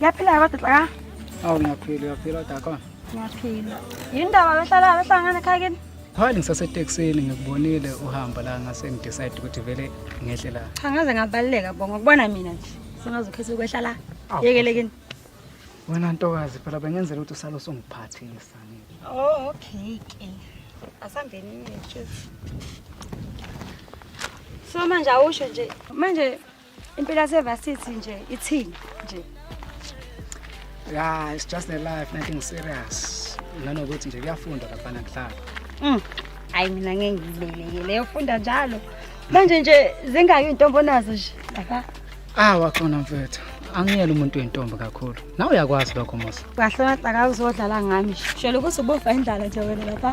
Yaphila kodwa xa. Awu ngiyaphila, uyaphila kodwa khona. Ngiyaphila. Yini ndaba behlala behlala ngane ekhaya kini? Phali ngisaseteksini ngikubonile uhamba la ngase ngidecide ukuthi vele ngehle la. Cha ngaze ngabaleka bo ngokubona mina nje. Sengaze ukhethe ukwehla la. Yekele kini. Wena ntokazi phela bengenzela ukuthi usalo songiphathisa. Oh okay ke. Asambeni mina. So manje awusho nje manje Impilo yasevasithi nje ithini nje. Yeah, it's just a life, nothing serious. Nanokuthi nje kuyafundwa lapha nakuhlala. Mm. Hayi mina ngeke ngibeleke leyo funda njalo. Manje nje zingayo intombo nazo nje. Lapha. Ah, waxona mfethu. angiyela umuntu wentombi kakhulu nawe uyakwazi lokho musa kahle mahlaka uzodlala ngami shela ukuthi ubofa indlala nje wena lapha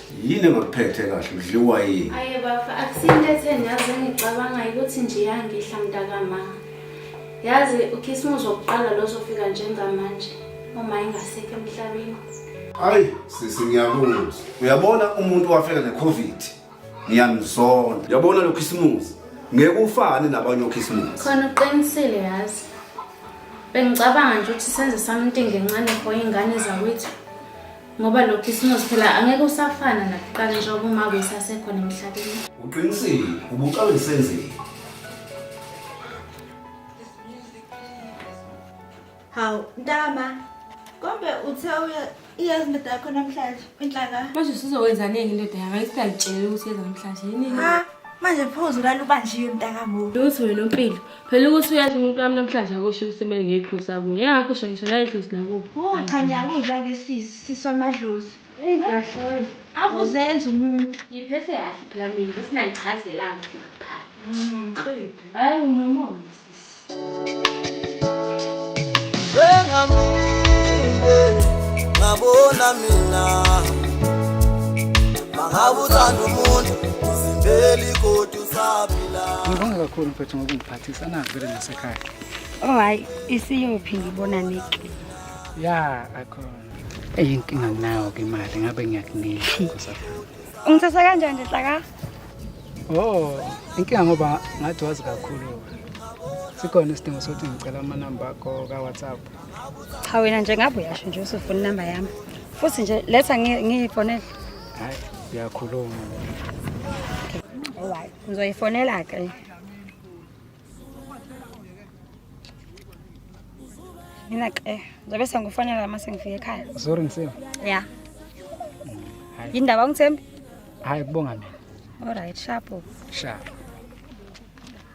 Yini engakuphethe kahle udliwa yini? Aye bafo akusinto etheni yazi engicabanga ukuthi nje iyangihla mntakama. Yazi ukhisimuzi wokuqala lo zofika njengamanje uma engasekho emhlabeni. Hayi sisi ngiyakuzwa. Uyabona umuntu wafika neCovid. Ngiyamzona. Uyabona lo khisimuzi ngeke ufane nabanye okhisimuzi. Khona uqinisile yazi. Bengicabanga nje ukuthi senze something ngencane for ingane zakwethu. ngoba lo khisimusi phela angeke usafana nakuqala njengoba uma kusasekhona emhlabeni uqinisile ubucawe lisenzile hawu ntama kombe uthe iyazi indoda yakho namhlanje inhlaka manje sizowenzaningi indoda yami ayisingangitsheleli ukuthi yeza namhlanje yini manje phozu lalo ubanjiwe mntakamuntu lutho wena umpilo Phela ukuthi uyazi umuntu wami namhlanje akusho ukuthi kumele ngiyiphusa kuye. Ngingakho usho ngisho nayidlozi lakubo. Oh cha ngiyakuzwa ke sis, sis wamadlozi. Eyi kahle. Akuzenzi umuntu. Ngiphethe kahle phela mina bese nangichazelanga nje kuqala. Mm. Hayi unomona sis. Bengamile ngabona mina. Mangabuthanda umuntu uzimbeli kodwa Ngibonga kakhulu mfethu ngokungiphathisa navele nasekhaya. Oh hayi isiyophi ngibona niki. Ya akhona. Eyinkinga nginayo ke imali ngabe ngiyakunika kusafuna. Ungithatha kanjani nje hlaka? Oh, inkinga ngoba ngathi wazi kakhulu. Sikhona isidingo sokuthi ngicela amanamba akho ka-WhatsApp. Cha wena nje ngabe uyasho nje usufuna inamba yami. Futhi nje letha ngiyifonele. hayi uyakhuluma alright ngizoyifonela ke mina ke ngizobe sengifonela uma sengifika ekhaya sorry ngisile ya yindaba ungithembi hayi kubonga mina alright sharp sharp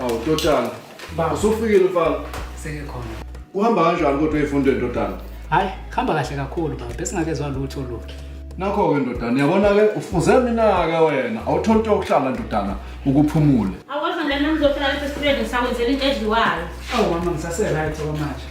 Hawu ndodana. Baba usufikile mfana. Sengikhona. Uhamba kanjani kodwa ifundo ndodana? Hayi, khamba kahle kakhulu baba. Besingakezwa lutho lutho. Nakho-ke ndodana, uyabona-ke ufuze mina-ke wena awutholi into yokuhlala ndodana ukuphumule. Awuwezwa lena ngizofika lapha esitulweni ngisawenzela into edliwayo. Awu mama ngisase-right okwamanje.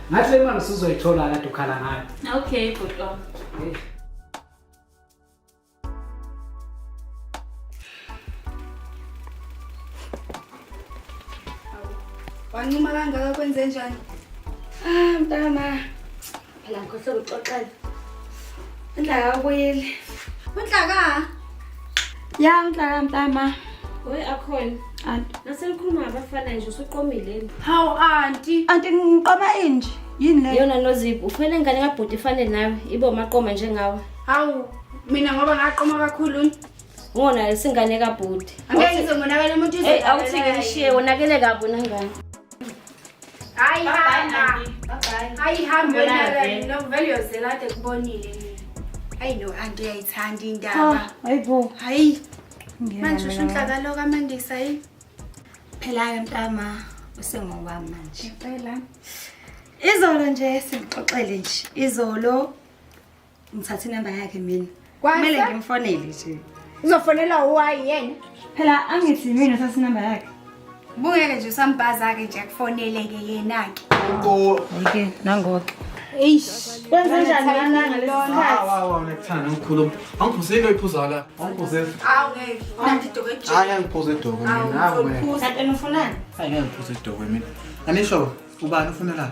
Ngathi le mali usuzoyithola kade ukhala ngayo. Okay, bhuti wami. Hey. Wancuma kangaka kwenze njani? Ah, mntana. Phela ngikhohle ukuxoxela. Inhlaka ubuyile. Unhlaka? Ya nhlaka nhlama. Hoy akhona. Anti. Naselikhuluma ngabafana nje usuqomileni. Hawu anti. Anti ngiqoma inje. Yini le? Yona nozibu ukhwele ngane kabhuti ifane nawe ibo maqoma njengawe. Hawu mina ngoba ngaqoma kakhulu. Ngona lesingane kabhuti. Angeke ngizomonakala umuntu izwe. Hey awuthi ngishiye wonakele kabi nangane. ayihamba ayihamba yona vele yozela ade kubonile ayi no anti uyayithanda indaba hayibo hayi manje usho inhlakalo kamandisa yi phela-ke mntama usengowami manje phela izolo nje singixoxele nje izolo ngithatha inamba yakhe mina kumele ngimfonele nje uzofonela uwayi yena phela angithi mina uthatha inamba yakhe bungeke nje usambhaza-ke nje akufoneleke yena-ke ke nangoke anisho ubani ufunelani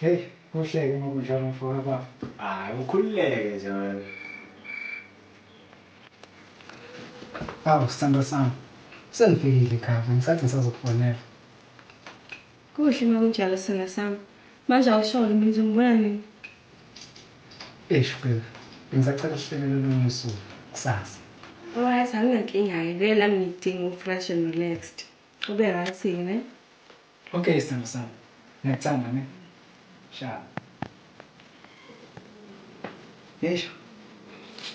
Hheyi kuhleke uma kunjalo mfoka bafo. Ay ukhululeke nje wena. Awu sthandwa sami sengifikile ekhaya bengisathi ngisazokufonela. Kuhle uma kunjalo sthandwa sami. Manje awusholo mina uzongibona nini? Eish babe bengisacela sihlelele olunye usuku kusasa. Alright anginankinga ke vele nami ngidinga uku fresh and relaxed ube right ke ne. Ok sthandwa sami ngyacanga ne shaa eish.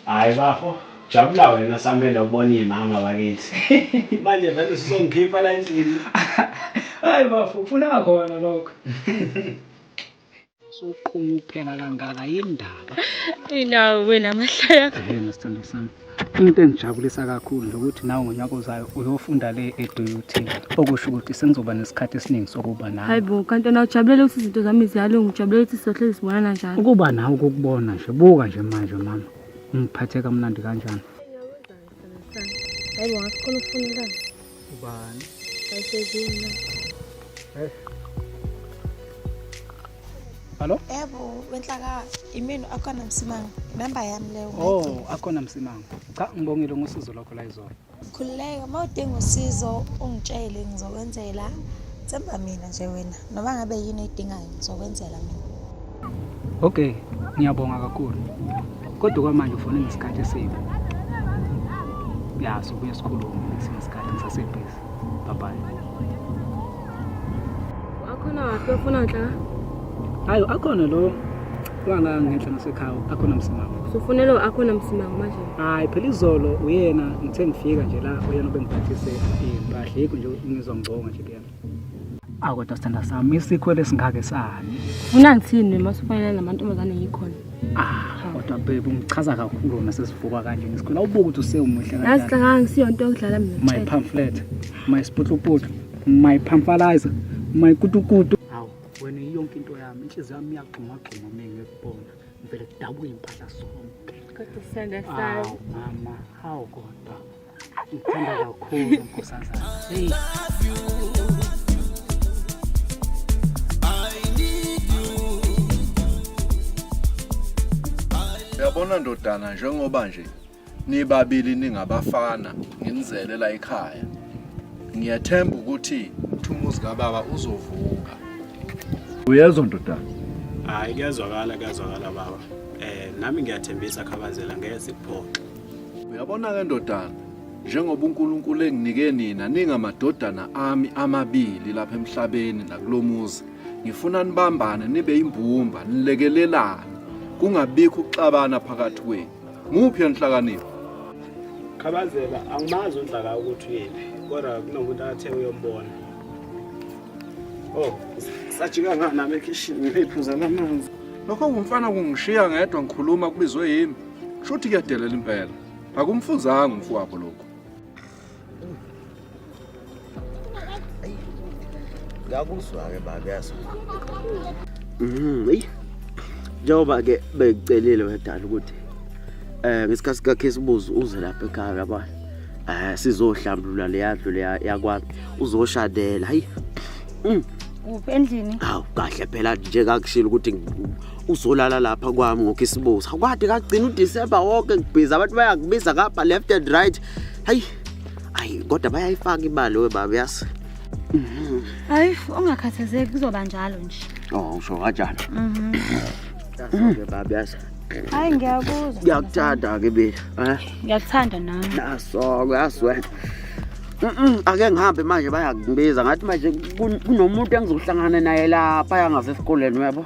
Hayi bafo jabula wena samele ubona imama bakithi manje vele usuzongikhipha la endlini. Hayi bafo ufuna khona lokho. Soqhumu kuphela kangaka yindaba. Inawo wena amahlaya. Yena sithando sami. Into engijabulisa kakhulu lokuthi nawe ngonyaka ozayo uyofunda le eDUT okusho ukuthi sengizoba nesikhathi esiningi sokuba nawe. Hayibo kanti na ujabulela ukuthi izinto zami ziyalunga ujabulela ukuthi sizohlezi sibonana njalo. Ukuba nawe ukukubona nje buka nje manje mama. Ungiphathe kamnandi kanjani? Hayi bo ngakhona ufuna la. Ubani? Ayisezini. Eh. Hallo? Yebo, wenhlaka imini akhona msimanga. Number yami leyo. Oh, akhona msimanga. Cha, ngibongile ngosizo lokho la izolo. Khululeka, uma udinga usizo ungitshele ngizokwenzela. Themba mina nje wena. Noma ngabe yini edingayo ngizokwenzela mina. Okay, ngiyabonga kakhulu. Kodwa kwamanje ufone ngesikhathi esibi. Ya, sobuye sikhulume ngesinye isikhathi ngisasebhizi. Bye bye. Wakhona waphi ofuna nhlaka? Hayi, akhona lo wanga ngenhla nasekhaya, akhona msimama. Usufune lo akhona msimanga manje. Hayi, phela izolo uyena ngithe ngifika nje la uyena obengiphathise impahla yikho nje ngizwa ngibonga nje kuyena. awu kodwa sithanda sami isikhwele esingake sani funa ngithini uma sifanele namantombazane ngikhona ah kodwa bebe ungichaza kakhulu wena sesivuka kanje ngisikhwela ubuke ukuthi usewumuhle yazi kanjani hlangana ngisiyonto yokudlala mina my tshela. pamphlet my sputluputlu my pamphalizer my kutukutu awu wena yonke into yami inhliziyo yami iyagxumagxuma mina ngikubona ngivele kudabuke impahla sonke Kodwa sithanda sami. awu mama hawu kodwa Ngithanda kakhulu nkosazana. Hey. Yabona ndodana njengoba nje nibabili ningabafana nginizele la ekhaya. Ngiyathemba ukuthi umuzi kababa uzovuka. Uyezwa ndodana? Hayi kuyazwakala kuyazwakala baba. Eh nami ngiyathembisa khabazela ngeke sikuphoxe. Uyabona-ke ndodana, njengoba uNkulunkulu enginike nina ningamadodana ami amabili lapha emhlabeni nakulo muzi, ngifuna nibambane nibe imbumba, nilekelelane, kungabikho ukuxabana phakathi kwenu. Muphi enhlakanipho? Khabazela, angimazi uNhlaka ukuthi uyephi, kodwa kunomuntu athe uyombona. Oh, sajika ngani nami ekhishini ngiphuza lamanzi. Lokho kumfana kungishiya ngedwa ngikhuluma kubizwe yimi. Shuthi kuyadelela impela. Akumfuzanga umfowabo lokho. Ngakuzwa ke baba yazi. Mhm. Hey. Njengoba ke bekucelile wedala ukuthi eh ngesikhathi kakhe sibuzo uze lapha ekhaya yabona. Eh sizohlambulula leyadlu leya yakwami uzoshadela. Hayi. Mm. Uphi endlini? Hawu kahle phela nje kakushilo ukuthi uzolala lapha kwami ngokisibuza kwade kagcina uDecember wonke ngibhiza abantu bayakubiza ngapha left and right hayi ayi kodwa bayayifaka imali webaba yazi hayi ungakhathazeki kuzoba njalo nje oh usho kanjani mhm ke baba yazi hayi ngiyakuzwa ngiyakuthanda ke mina eh ngiyakuthanda nami naso uyaswela Mhm ake ngihambe manje bayakubiza ngathi manje kunomuntu engizohlangana naye lapha yangasesikoleni yebo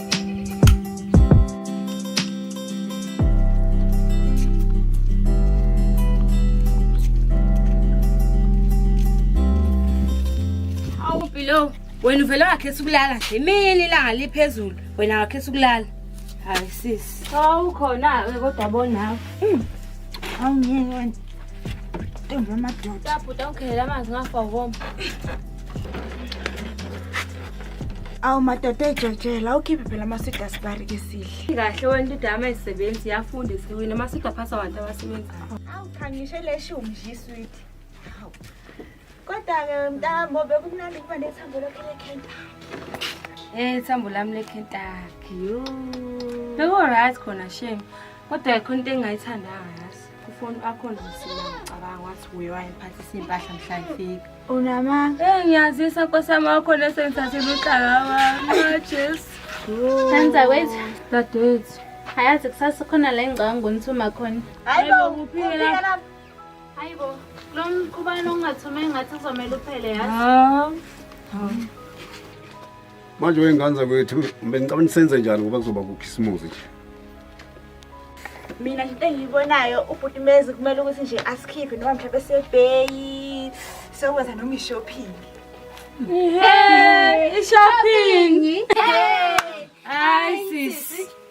Awumpilo wena uvele wakhetha ukulala nje imini ilanga liphezulu wena wakhetha ukulala hayi sisi awukhona-ke kodwa bonawe hmm. awungeke wena ntombi yamadoda bhuti awukhelela amanzi ngafa ukoma awu madoda ejotshela ukhiphe phela amasida sibari ke sihle kahle wena into yami ayisebenzi yafunda isiwini amasida aphasa abantu abasebenzayo awu cha ngisho leshumi nje isweet awu kodwa-ke mntambo bekumnandi ukuba nethambo lakhe lekhentaki um ithambo lami lekhentaki yo bekuwuright khona shame kodwa khona into engingayithandayo Ufoni akho nje singacabanga wathi uye wayemphathisa impahla mhla ifika. Unama? Eh ngiyazisa nkosama wakho lese ngithathile uhlaka wami. Jesu. Senza kwethu. Dadewethu. Hayazi kusasa khona la engicabanga ngonithuma khona. Hayibo kuphila. Hayibo. Lo mqhubano ongathuma engathi uzomela uphele yazi. Hawu. manje wey'ngane zakwethu bengicabani senze njani ngoba kuzoba kukhisimuzi nje mina into engiyibonayo ubhuti mezi kumele ukuthi nje asikhiphe noma mhlawumbe sebheyi sokwenza noma ishopping ishopping hayi sisi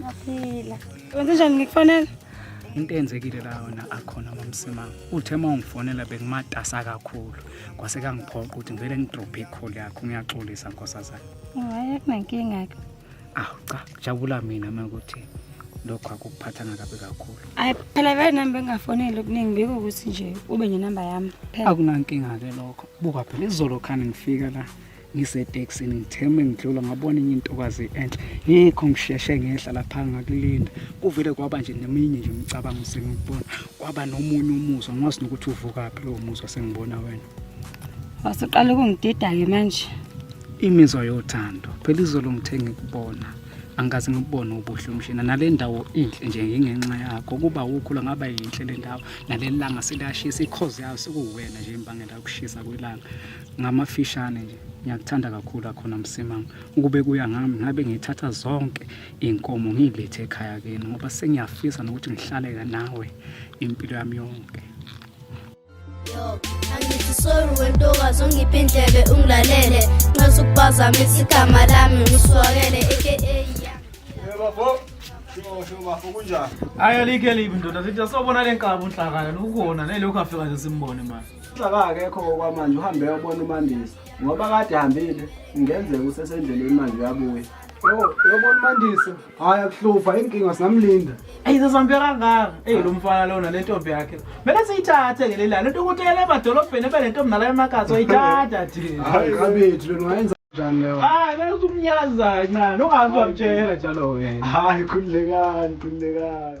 Ngaphila. Wenze njani ngikufanele? into eyenzekile la yona akhona mamsimanga uthe uma ungifonela bekumatasa kakhulu kwase kangiphoqa ukuthi ngivele ngidrophe ikholi yakho ngiyaxolisa nkosazana hayi akunankinga-ke awu cha jabula mina uma ukuthi lokho akukuphathanga kabi kakhulu hayi phela vele nami bengingafoneli okuningi biko ukuthi nje ube nenamba yami phela akunankinga-ke lokho buka phela izolo khani ngifika la ngisetekisini ngithe uma ngidlula ngabona enye intokazi enhle ngikho ngisheshe ngehla lapha ngakulinda kuvele kwaba nje neminye nje imicabango sengikubona kwaba nomunye umuzwa ngwazi nokuthi uvukaphi lowo muzwa sengibona wena wasuqala ukungidida-ke manje imizwa yothando phela izolo ngithe ngikubona angikaze ngibone ubuhle umshina nale ndawo inhle nje ngingenxa yakho ukuba ukhula ngaba yinhle le ndawo naleli langa seliyashisa ikhozi yayo sekuwuwena nje imbangela yokushisa kwelanga ngamafishane nje ngiyakuthanda kakhulu akhona msimanga ukube kuya ngami ngabe ngithatha zonke iy'nkomo ngiy'lethe ekhaya kini ngoba sengiyafisa nokuthi ngihlale nawe impilo yami yonke angithi sorry wentokazi ongiphi indlebe ungilalele nxesa ukubazamisa igama lami ngisuwakele aka ayi alikho elibi ndoda sithi asobona le nkabi unhlakala nokukhona nelokhu afika nje simbone manje Uxaka akekho okwamanje uhambe yobona uMandisa ngoba kade hambile ngenzeka usesendleleni manje uyabuya. Yo, yobona uMandisa. Hayi akuhluva inkinga singamlinda. Ey sesambhe kangaka. Ey lo mfana lona le ntombi yakhe. Mele siyithathe ke lelana. Into ukuthi yele emadolobheni ebe le ntombi nala emakhathi oyithatha thina. Hayi kabethu lona wayenza kanjani leyo? Hayi bese umnyaza kancane. Ungazi wamtshela njalo wena. Hayi khululekani, khululekani.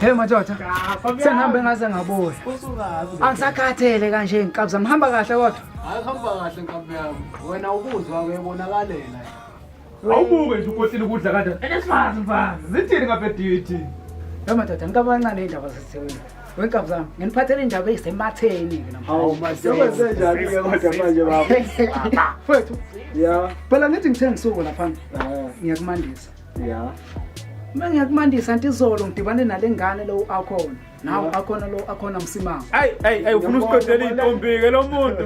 Hey madoda. Sengihambe ngaze ngabuya. Angisakhathele kanje ngikabza ngihamba kahle kodwa. Hayi hamba kahle nkabi yami. Wena ukuzwa ke bonakalela. Awubuke nje ukotile ukudla kade. Elesifazi mfana. Zithini ngabe duty? Hey madoda ngikabancane indaba zesewini. Wake zami nginiphathele indaba ezisematheni ke namhlanje mfethu phela ngithi ngithe ngisuko lapha ngiyakumandisa ya uma ngiyakumandisa anti izolo ngidibane nale ngane lo akhona nawo akhona lo akhona msimanga ayi ayi ayi ufuna usiqedela intombike lo muntu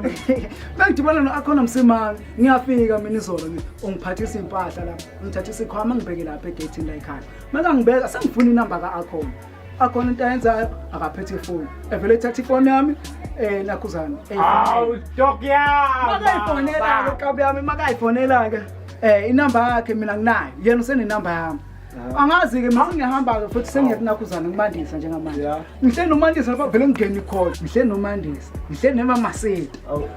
mangidibana no akhona msimanga ngiyafika mina izolo mina ungiphathisa impahla lapha ngithathisa ikhwama ngibheke lapha egethini la ekhaya maka ngibeka sengifuna inamba ka akhona akhona into ayenzayo akaphethe ifoni evele ethatha ifoni yami eh nakhuzana awu stock yami makayifonela ke kabi yami makayifonela ke eh inamba yakhe mina nginayo yena usenenamba yami ah. angazi ke mase ngihamba ke futhi sengiyakunakhuzana ngimandisa njengamanje ngihle nomandisa lapha vele ngingeni khona ngihle nomandisa ngihle nema masile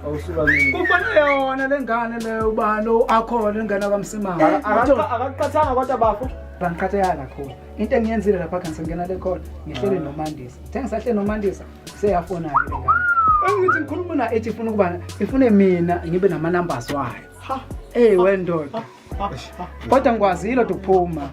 awusuka mina kufanele yona lengane le ubani akhona lengane kamsimanga akaqathanga kodwa bafo bangiqatheka kakhulu into engiyenzile lapha kanti sengena le call ngihlele nomandisa ngithe ngisahlele nomandisa seyafonake le ngane engithi ngikhuluma na ethi ifuna ukuba ifune mina ngibe nama-numbers wayo eyi wendoda kodwa ngikwazile oda ukuphuma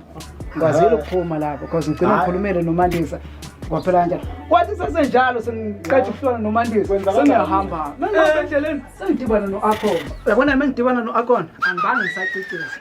ngikwazile ukuphuma lapho because ngigcina ngikhulumele nomandisa kwaphela kanjalo kwathi sesenjalo sengiqeda ukuhlona nomandisa sengiyahamba endleleni sengidibana no-akhona yabona mengidibana no-akhona angibange ngisacicisa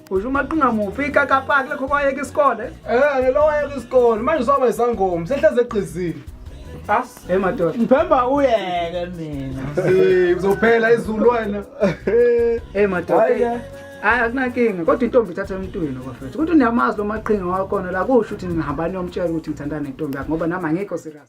usho umaqinga muphi ikakapaki lekho kwayeka isikole Eh, ngelo wayeka isikole. Manje usaba isangoma. Sehleze egqizini. ah hey madoda Ngithemba uyeke mina. Eh, uzophela izulu wena. hey madoda Hhayi ke. hayi akunankinga kodwa intombi ithatha emntwini kwafethu ukuthi uniyamazi lo maqhinga wakhona la kusho ukuthi ningihambani yomtshela ukuthi ngithandana nentombi yakho ngoba nami angikho serious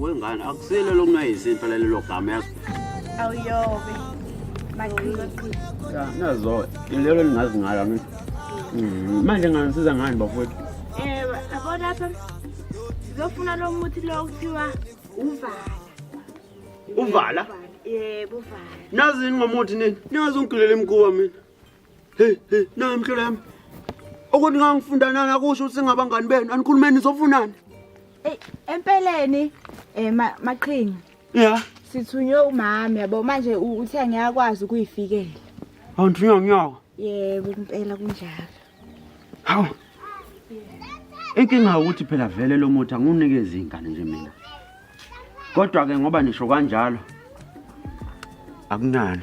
wengane akusile lo mna yizinto lelo gama yazi awuyobe maqhiqhiqhi ya nazo ilelo lingazi ngalo mina mm, manje nganisiza ngani bafowethu eh yabo lapha ngizofuna lo muthi lo kuthiwa uvala uvala yebo uvala nazini ngomuthi nini nazi ungigilele imkuwa mina Hey, hey, nayo mhlolo yami. Ukuthi ngangifunda nani akusho ukuthi singabangani benu. Anikhulumeni nizofunani? Ey, empeleni eh ma- maqhinga Yeah. sithunywe umama yabo manje u- uthe ngiyakwazi ukuyifikela. Awundrinya nyawo. Yebo impela kunjalo. Hawu. Inkinga ukuthi phela vele lo muthi angunikezi ingane nje mina. Kodwa ke ngoba nisho kanjalo akunana.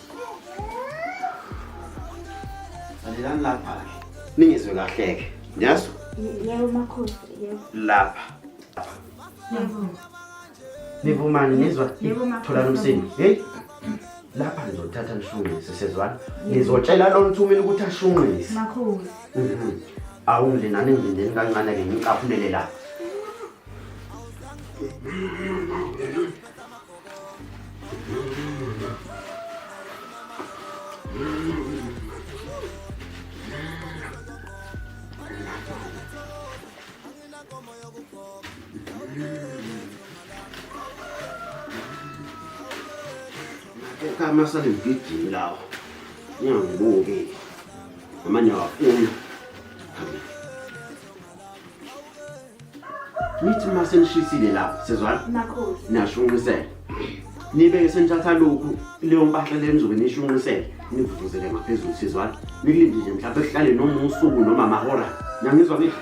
Alelani lapha ke. Ningizwe kahle ke. Nyazi? Yebo makhosi, yebo. Lapha. Yebo. Nivumani nizwa? Yebo makhosi. Thola nomsini. Hey. Lapha ngizothatha ngishungise sezwana. Ngizotshela lo ntsumile ukuthi ashungise. Makhosi. Mhm. Awunginani ngindeni kancane ke ngicaphulele lapha. Kama sale mgijimi lawo ngiyangibuki ngamanye awafuni nithi uma senishisile lapho sezwana niyashunqisela nibeke senithatha lokhu leyo mpahla le nizobe niyishunqisele nivuvuzele ngaphezulu sezwana nikulinde nje mhlawumbe kuhlale noma usuku noma amahora nangizwa ngithi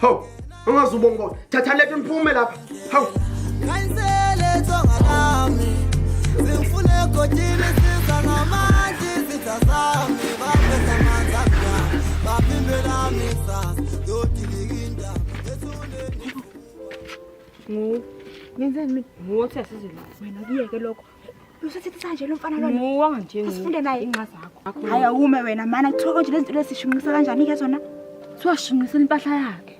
hawu ungaze ubonge bona thatha letho niphume lapha hawu Ngu. Ngenzeni mina? Nguwothi asizile. Wena kuyeke lokho. Usethethisa nje lo mfana lona. Muwa nje. Asifunde naye inxa zakho. Hayi awume wena mana kuthiwa konje lezi zinto lesishunqisa kanjani ke zona? Kuthiwa shunqisa impahla yakhe.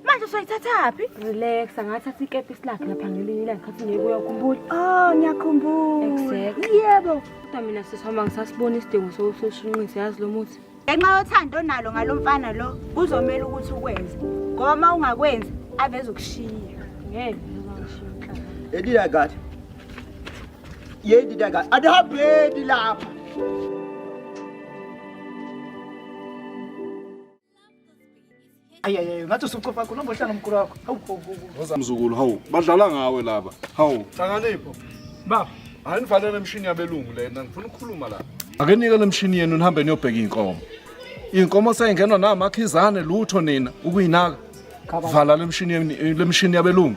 Manje soyithatha phi? Relax, angathatha ikepisi lakhe lapha ngelinye ilanga khathi ngekuya ukhumbula. Oh, ngiyakhumbula. Exactly. Yebo. Kodwa mina sisihamba ngisasibona isidingo sokushunqisa yazi lo muthi. ngenxa yothando onalo ngalo mfana lo kuzomele ukuthi ukwenze ngoba uma ungakwenzi aveze ukushiya ngeke edida kathi yedida kathi adihambeni lapha ayiyayayo ngathi usucofa khona umbohlana omkhulu wakho hawu mzukulu hawu badlala ngawe laba hawu hlanganipho baba hayi nivalele emshini yabelungu lena ngifuna ukukhuluma la ake nike le mshini yenu nihambe niyobheka iy'nkomo iy'nkomo seyingenwa namakhizane lutho nina ukuyinaka vala le mshini yenu- le mshini yabelungu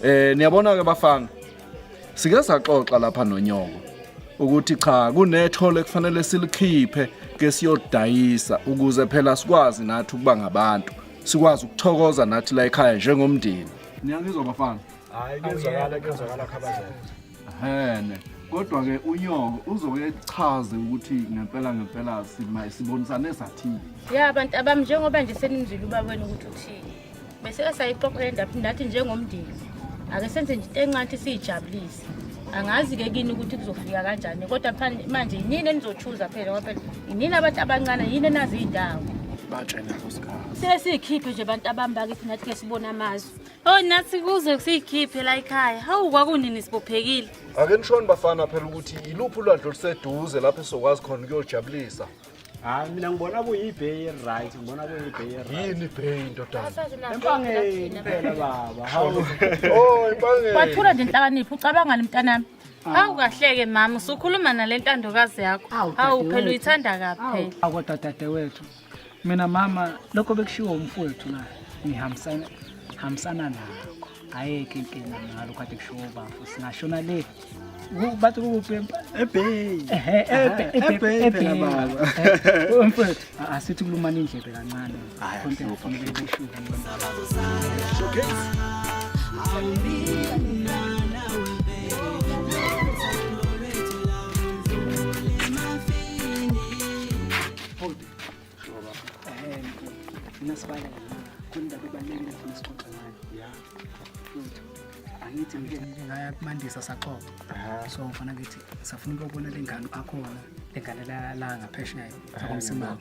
um niyabona-ke bafana Sike saxoxa lapha nonyoko ukuthi cha kunethole ekufanele silikhiphe ke siyodayisa ukuze phela sikwazi nathi ukuba ngabantu sikwazi ukuthokoza nathi la ekhaya njengomndeni niyangizwa bafana hayi kuzwakala kuzwakala khabazela ehene kodwa ke unyoko uzoke chaze ukuthi ngempela ngempela sibonisane sathini ya abantu abami njengoba nje senimzwile ubabweni ukuthi uthini beseke sayixoxa le ndaba ndathi njengomndeni ake senze nje into encanti siyijabulise angazi-ke kini ukuthi kuzofika kanjani kodwa manje yinini enizochuza phela ngoba phela yinini abantu abancane yini enazi iy'ndawo siye siyikhiphe nje abantu abami bakithi nathi ke sibone amazwi o oh, nathi kuze siyikhiphe la ikhaya hawu kwakunini sibophekile ake nishoni bafana phela ukuthi yiluphi ulwandle oluseduze lapho esizokwazi khona ukuyojabulisa hayi mina ngibona kuyibhey right ngibona kuyibhey yini ibhey ndodanaempangeni phela baba oh impangeni wathula nje inhlakaniphi ucabangani mntanami ah. hawu kahleke mama usukhuluma nale ntandokazi yakho hawu phela uyithanda kaphela akodwa dadewethu mina mama lokho bekushiwo umfowethu naye ngihambisana nakho ayikho inkinga ngalo kade kusho bafo singashona le bathi kukuphi ebhey ebhey phela baba mfethu asithi kulumana indlebe kancane khonke ngifanele kushuka angithi ngingaya kumandisa saxoxa so ngifana ngithi safuna ukuyobona le ngane akhona le ngane la ngaphesheya akomsimama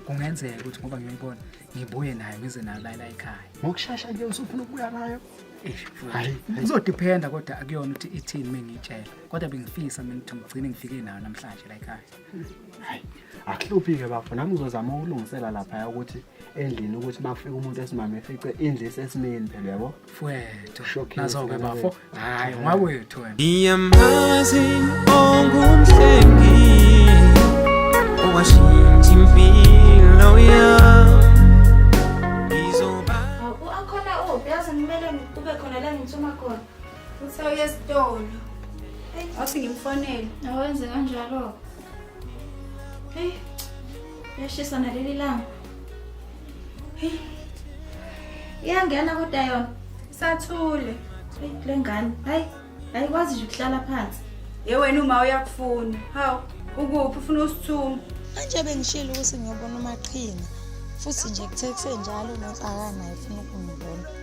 kungenzeka ukuthi ngoba ngiyoyibona ngibuye nayo ngize nayo layila ekhaya ngokushasha nje usufuna ukubuya nayo kuzodiphenda kodwa akuyona ukuthi ithini uma ngiyitshela kodwa bengifisa mina ukuthi ngigcine ngifike nayo namhlanje la ekhaya akuhluphi-ke bafo nami ngizozama ukulungisela laphaya ukuthi endlini ukuthi bafike umuntu esimame efice indlu isesimeni phela yabo fwethu Shocking, nazo-ke mfana bafo wethu. hhayi ungawethu wena Ngiyamazi ongumhlengi owashintsha impilo yami ngizoba Aku akhona uphi yazi ngimele kube khona la ngithuma khona Uthe uye esitolo. Wathi ngimfonele. Awenze kanjalo. Hey. Yashisa naleli langa. Hey. Iyangena kodwa yona. Sathule. Hey lengane. Hayi. Ayikwazi nje ukuhlala phansi. Ye wena uma uyakufuna. Haw. Ukuphi ufuna usithuma? Manje bengishilo ukuthi ngiyobona umaqhinga. Futhi nje kuthe kusenjalo uNotsakana efuna ukungibona.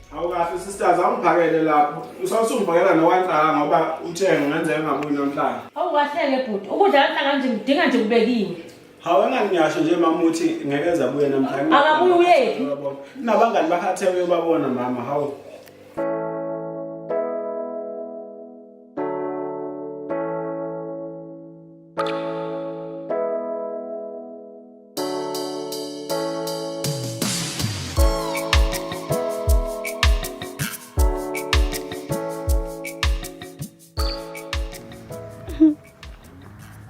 Awukahle sisters awungiphakele lapho. Usawusungibhakela nowancaha ngoba uthenge ngenzeka ngabuyi namhlanje. Awukahleke bhuti. Ukudla kanhla kanje ngidinga nje kubekiwe. Hawu enganginyasho nje mama uthi ngeke eza buye namhlanje. Akabuye uyephi? Nabangani bakhathe uyobabona mama hawu.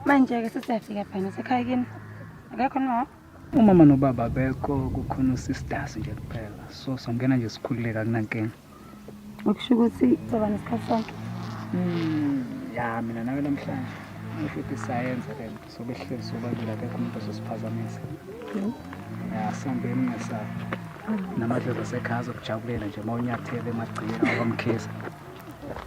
Manje-ke sesiyafika phana sekhaya kini. Akekho noma wakho? Umama nobaba abekho kukhona usistasi nje kuphela. So songena nje sikhululeka kunankinga. okusho ukuthi soba nesikhathi sonke hmm, ya mina nawe namhlanje ngisho ukuthi sayenza le nto sobe sihlezi sobabili akekho umuntu ozosiphazamisa hmm. ya sihambe emngesayo namadlozi asekhaya azokujabulela nje uma unyathele emagciyeni awamkhisa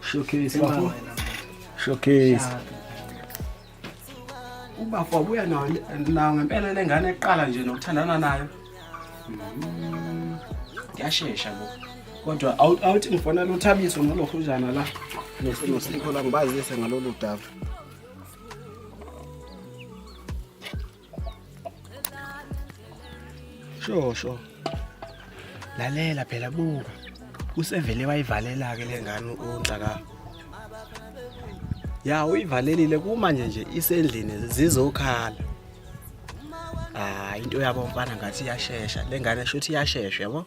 Showcase bafo. Showcase. Ubafo wabuya nawo nawo ngempela le ngane eqala nje nokuthandana nayo. Yashesha bo. Kodwa out out ngifona lo Thabiso nolokhuzana la. Nesimo sikho la ngibazise ngalolu dava. Sho sho. Lalela phela buka. Usevele wayivalela ke lengane uNhlaka. Ya uyivalelile kumanje nje isendlini zizokhala. Ah into yabo mfana ngathi iyashesha. Lengane shothi iyashesha yabo.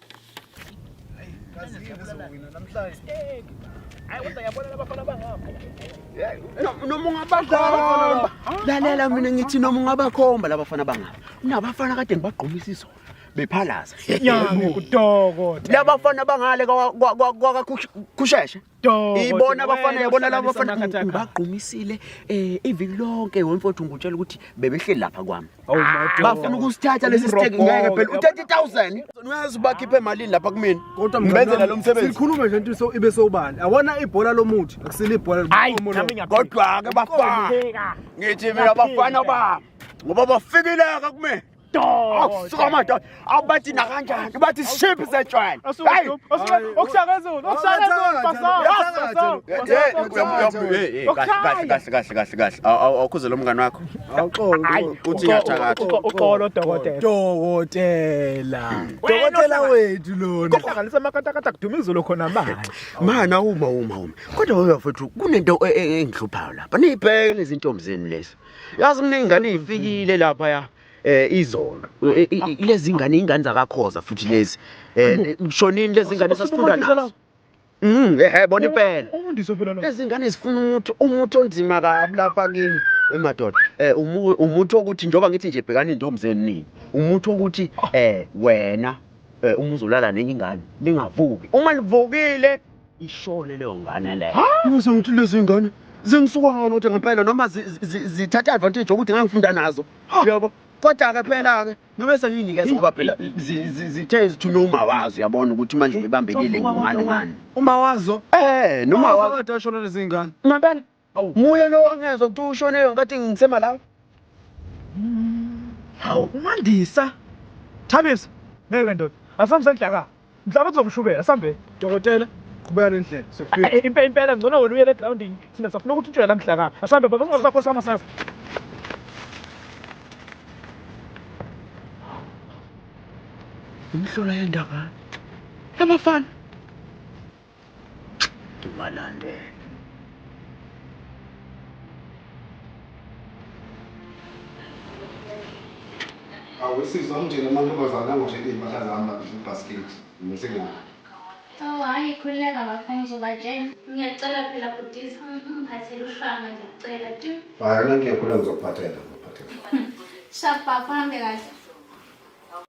noma ungabakhomba lalela mina ngithi noma ungabakhomba labafana bangapha unabafana kade ngibagqumisa izona bephalaza labafana bangale kwakakusheshe ibona abafana yabona laba bafana ngibagqumisile eh iviki lonke wemfowethu ngutshela ukuthi bebehleli lapha kwami oh, ah, bafuna ukusithatha lesi siteki ngeke phela u30000 uyazi bakhiphe emalini lapha kumina kodwa ngibenzela lo msebenzi sikhulume nje into so ibe sobani awona ibhola lomuthi akusile ibhola lomuthi kodwa ke bafana ngithi mina bafana ba ngoba bafikile ka kumina akusuka amadoda awubathi nakanjani ubathi ship zetshwala awukhuze lo mngane wakho uthi yathakathauxolo dokoteladokotela dokotela wethu lonahlanganisa amakatakata kuduma izolo khona manje mana uma uma uma kodwa wewafethu kunento engihluphayo lapha niyibheke lezintombi zenu lezi yazi kuney'ngane ey'fikile laphaya eh izona eh, i- i- lezi ngane ingane zakakhoza futhi lezi eh kushonini lezi ngane sasifunda nazo Mm, eh bona impela Umfundisi phela lo. lezi ngane zifuna umuthi umuthi onzima kabi lapha kimi emadoda eh umu- umuthi wokuthi njengoba ngithi nje bhekani intombi zenu nini umuthi wokuthi eh wena eh uma uzolala nenye ingane lingavuki uma livukile Ishone leyo ngane le. Musa ngithi lezi ingane zingisuka ngani ukuthi ngempela noma zithatha advantage yokuthi ngangifunda nazo. Yabo. Kodwa ke phela ke noma senginikeza ngoba phela zithe zithuna uma wazo uyabona ukuthi manje ibambekile ngani ngani. Uma wazo? Eh, noma wazo. Kodwa shona lezi ingane. Ngempela. Hawu. Muye lo angezwa ukuthi ushone ngathi ngisema la. Hawu uMandisa. Thabisa. Ngeke ndoda. Asambe ndlaka. Mhlawumbe kuzomshubela sambe. Dokotela qhubeka nendlela. Sokufika. Eh, Impela impela ngcono wena uyele grounding. Sina safuna ukuthi utshele la mhlaka. Asambe baba ungazakho sama sasa. Imhlola yendaba. Yabafana. ngibalandele. Awesizwa amtshele amantombazane angoshela izimpahla zami babhidle ubhasikidi ngithi ngiyahamba. Awu hhayi khululeka bafo ngizobatshela. Ngiyacela phela bhutiza ungiphathele ushwanga ngiyakucela tu. Hhayi anankinga khululeka ngizokuphathela ngizokuphathela. Sharp bafo uhambe kahle.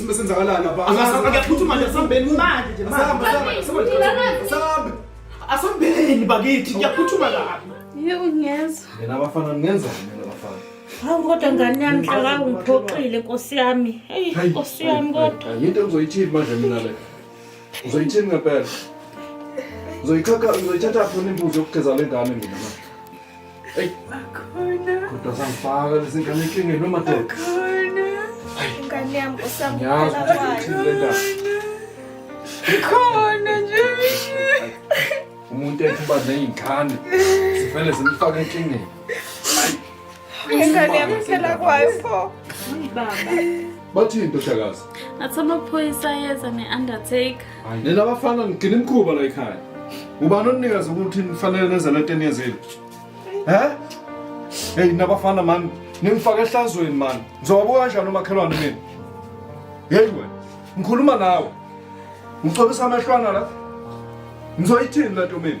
Sime senzakalani lapha? Angaphuthuma nje sambeni manje nje manje. Sambe. Asambeni bakithi ngiyaphuthuma lapha. Yebo ngiyezwa. Yena abafana ngenza mina abafana. Hawu kodwa ngane yami hlaka ungiphoxile Nkosi yami. Hey Nkosi yami kodwa. Yinto engizoyithini manje mina le. Uzoyithini ngempela? Uzoyithatha uzoyithatha phone imbuzi yokugeza lengane mina manje. Eyi. Bakhona. Kodwa zangifaka lezi ngane enkingeni noma doda. Bakhona. Ingane yami usabukhona kwayo. Khona nje. Umuntu ethi uba nezingane. Sivele zimfake enkingeni. Ingane yami phela kwayo pho. Baba. Bathini ntoshakazi? Athi amaphoyisa ayeza ne-undertaker. nina bafana nigcina imkhuba la ekhaya ubani onikazi ukuthi nifanele nenze le nto eniyenzile he heyi nabafana mani ningifake ehlazweni mani ngizowabuka kanjani umakhelwane mina yeyi wena ngikhuluma nawe ngicobisa amehlwana la ngizoyithini le nto mina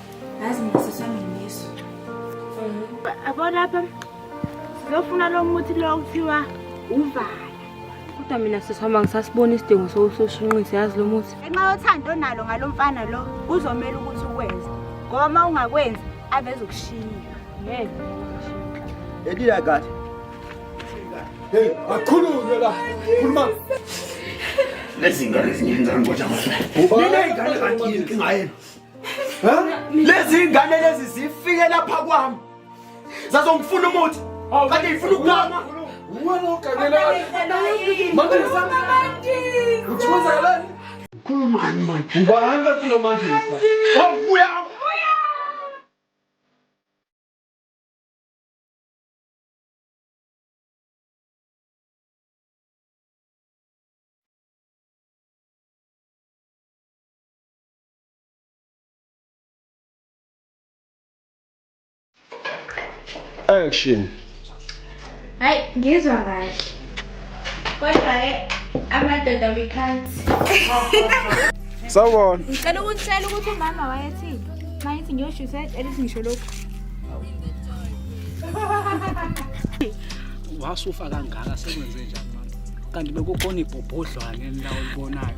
Yazi ngisisami ngiso. Abo lapha sizofuna lo muthi lo kuthiwa uvala. Kodwa mina sisihamba ngisasibona isidingo sokusoshinqisa yazi lo muthi. Ngenxa yothando onalo ngalo mfana lo kuzomela ukuthi ukwenze. Ngoba uma ungakwenzi aveze ukushiya. Ngeke. Edila kahle. Hey, akhulume la. Khuluma. Lezi ngane zingenza ngiboja manje. Ubani? Lezi ngane kanti inkinga yenu. lezi ngane lezi zifike lapha kwami zazongifuna umuthi kanti ngifuna ukugama uwena ogangelani uthunzelani ukhulumani manje ubani kathi lo manje wabuya Action. Hayi ngizwa kahle. Kodwa ke amadoda we can't. Sawubona. Ngicela ukutshela ukuthi umama wayethini. Mayithi ngiyosho usethi elithi ngisho lokho. Wasufa kangaka sekwenze njani mama? Kanti bekukhona ibhobhodlwane endawo ulibonayo.